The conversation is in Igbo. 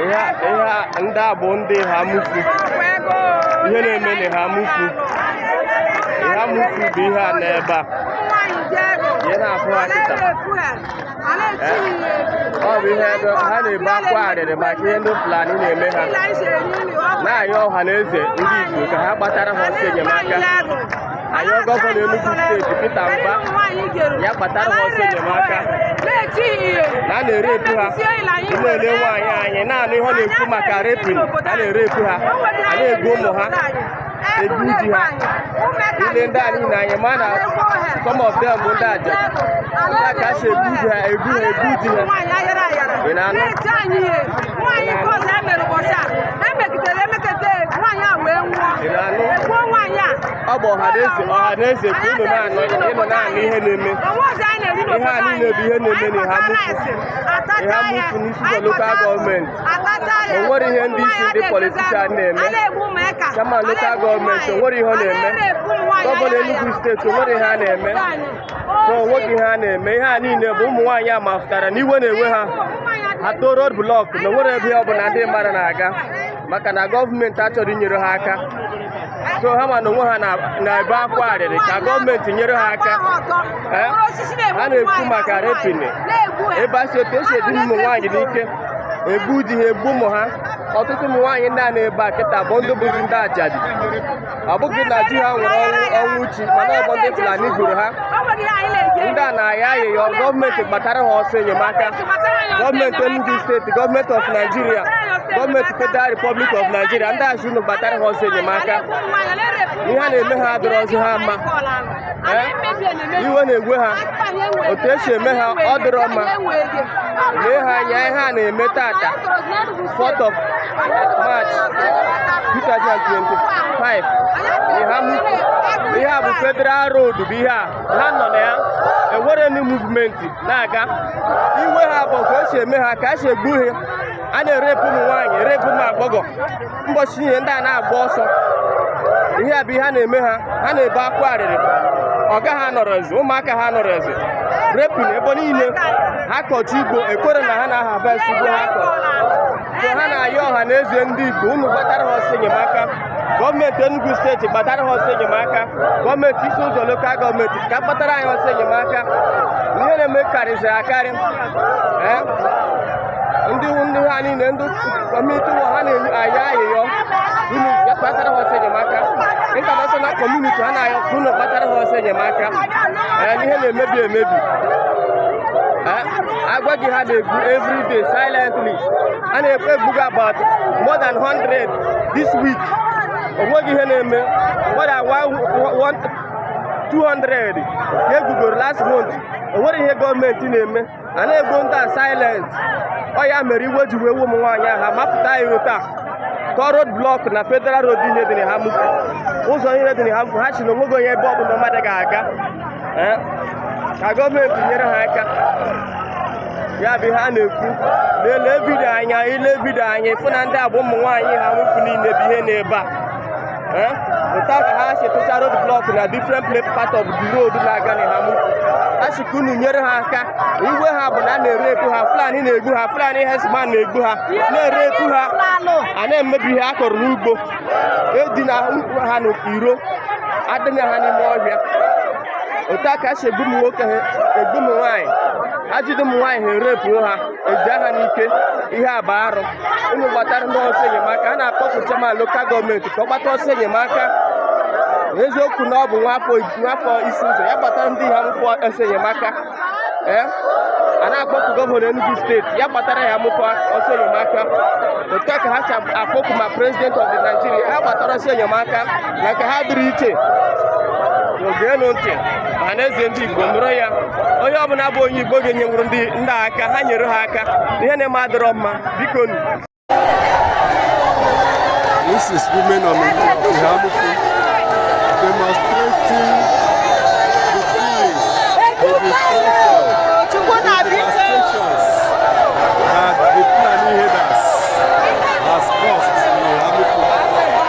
ihe ndị a bụ ndị Eha Amufu ihe na-eme na Eha Amufu Eha Amufu bụ ihe a n'ebe a ihe na-afụ ha kịta ọ bụ ihe ha na-ebe akwa arịrị maka ihe ndị Fulani na-eme ha na-ayọ ọha na eze ndị Igbo ka ha gbatara ha ọsọ enyemaka anyị gọvanọ Enugu steeti Peter Mbah ya gbatara ha ọsọ enyemaka na a na-erepu ha na-ele nwaanyị anyị na-anụ ihe ọ na-ekwu maka repin a na-erepu ha a na-egbu ụmụ ha egbu di ha ile ndị a niile anyị ma na some of them bụ ndị ajadi ka e si egbu di ha egbu ha egbu di ha ị na-anụ emegidere emekete nwaanyị a wee nwụọ egbuo nwaanyị a ọ bụ ọha na eze ọha na eze ka unu na-anụ unu na-anụ ihe na-eme onwezi anyị na-eri ihe a niile bụ ihe na-eme na Eha Amufu Eha Amufu n'Isi Ụzọ lokal gọọmenti o nwere ihe ndị isi ndị politishan na-eme chiaman lokal gọọmenti o nwere ihe ọ na-eme gọvanọ Enugu steeti o nwere ihe a na-eme so nwoke ihe a na-eme ihe a niile bụ ụmụ nwaanyị a mafụtara na iwe na-ewe ha ha too road blọk na o nwere ebe ọ bụla ndị mmadụ na-aga maka na gọọmenti achọrọ inyere ha aka so ha ma na onwe ha na-ebe akwa arịrị ka gọọmenti nyere ha aka eh? ha na-ekwu maka repini ebe a si otu esi edina ụmụ nwaanyị n'ike egbu di ha egbu ụmụ ha ọtụtụ ụmụ nwaanyị ndị a nọ ebe a kịta bụ ndị bụzi ndị ajadi ọ bụghị na di ha nwụrụ ọnwụ ọnwụ chi mana ọ bụ ndị Fulani gburu ha ndị a na-ayọ ayịyọ gọọmenti gbatara ha ọsọ enyemaka gọọmenti Enugu steeti gọọmenti of Nigeria gọọmenti Federal Republic of Nigeria ndị a sị unu gbatara ha ọsọ enyemaka ihe a na-eme ha adịrọzi ha mma iwe na-ewe ha otu esi eme ha ọ dịrọ mma lee ha anya ihe a na-eme tata 4th of March 2025 ihe a bụ Federal Road bụ ihe a ha nọ na ya enwere any muvmenti na-aga iwe ha bụ otu esi eme ha ka esi egbu ha a na-erepu ụmụ nwaanyị erepu ụmụ agbọghọ ụbọchị niile ndị a na-agba ọsọ ihe a bụ ihe a na-eme ha ha na-ebe akwa arịrị ọga ha anọrọzi ụmụaka ha anọrọzi repin ebe niile ha kọcha ugbo ekwere na ha na-aharvest ugbo ha kọrọ so ha na-ayọ ọha na eze ndị Igbo unu gbatara ha ọsọ enyemaka gọọmenti Enugu steeti gbatara ha ọsọ enyemaka gọọmenti Isi Ụzọ lokal gọọmenti ka gbatara anyị ọsọ enyemaka ihe na-eme karịziri akarị ndị ndị ha niile ndị kọmuniti ụwa ha na-ayọ ayịyọ unu ya gbatara ha ọsọ enyemaka intanashọnal kọmuniti ha na-ayọ ka unu gbatara ha ọsọ enyemaka ee ihe na-emebi emebi agwa gị ha na-egbu every day silently a na-ekpe egbugo about more than 100 this week onweghị ihe na-eme more than 200 ka egbugoro last month onwerọ ihe gọọmenti na-eme a na-egbu ndị a silent ọ ya mere iwe ji wee ụmụ nwaanyị ahụ mapụta iro taa tọọ road blọk na federal road niile dị na Eha-Amufu ụzọ niile dị na Eha-Amufu ha sị na onweghị onye ebe ọbụla mmadụ ga-aga eh, ka gọọmenti nyere ha aka ya bụ ihe a na-ekwu lelee vidio anyị anyị lee vidio anyị fụ na ndị a bụ ụmụ nwaanyị Eha-Amufu niile bụ ihe na-ebe a eh? otu a ka ha si tọcha road blọk na different part of the road na-aga na Eha-Amufu a sị ka unu nyere ha aka iwe ha bụ na a na-erepu ha Fulani na-egbu ha Fulani herdsmen na-egbu ha na-erepu ha a na-emebi ihe a kọrọ n'ugbo edina ha n'iro edina ha n'ime ọhịa otu a ka e si egbu ụmụ nwoke egbu ụmụ nwaanyị ejide ụmụ nwaanyị ha erepuo ha eji ha n'ike ihe a bụ arụ unu gbatara ndị a ọsọ enyemaka a na-akpọku chairman lokal gọọmenti ka ọ gbata ọsọ enyemaka eziokwu na ọ bụ nwafọ Isi-Uzo ya gbatara ndị Eha-Amufu ọsọ enyemaka ee eh? a na-akpọku gọvanọ Enugu steeti ya gbatara Eha-Amufu ọsọ enyemaka otu a ka ha si akpọku ma prezidenti of Nigeria ha gbatara ọsọ enyemaka maka ha dịrị iche geenu ntị Ọhanaeze ndị Igbo nụrụ ya onye ọbụla bụ onye Igbo ga-enyenwuru ndị a aka ha nyere ha aka ihe na-eme adịrọ mma biko This is women of Eha-Amufu demonstrating the feelings, the destruction, the devastations that the Fulani herders has caused.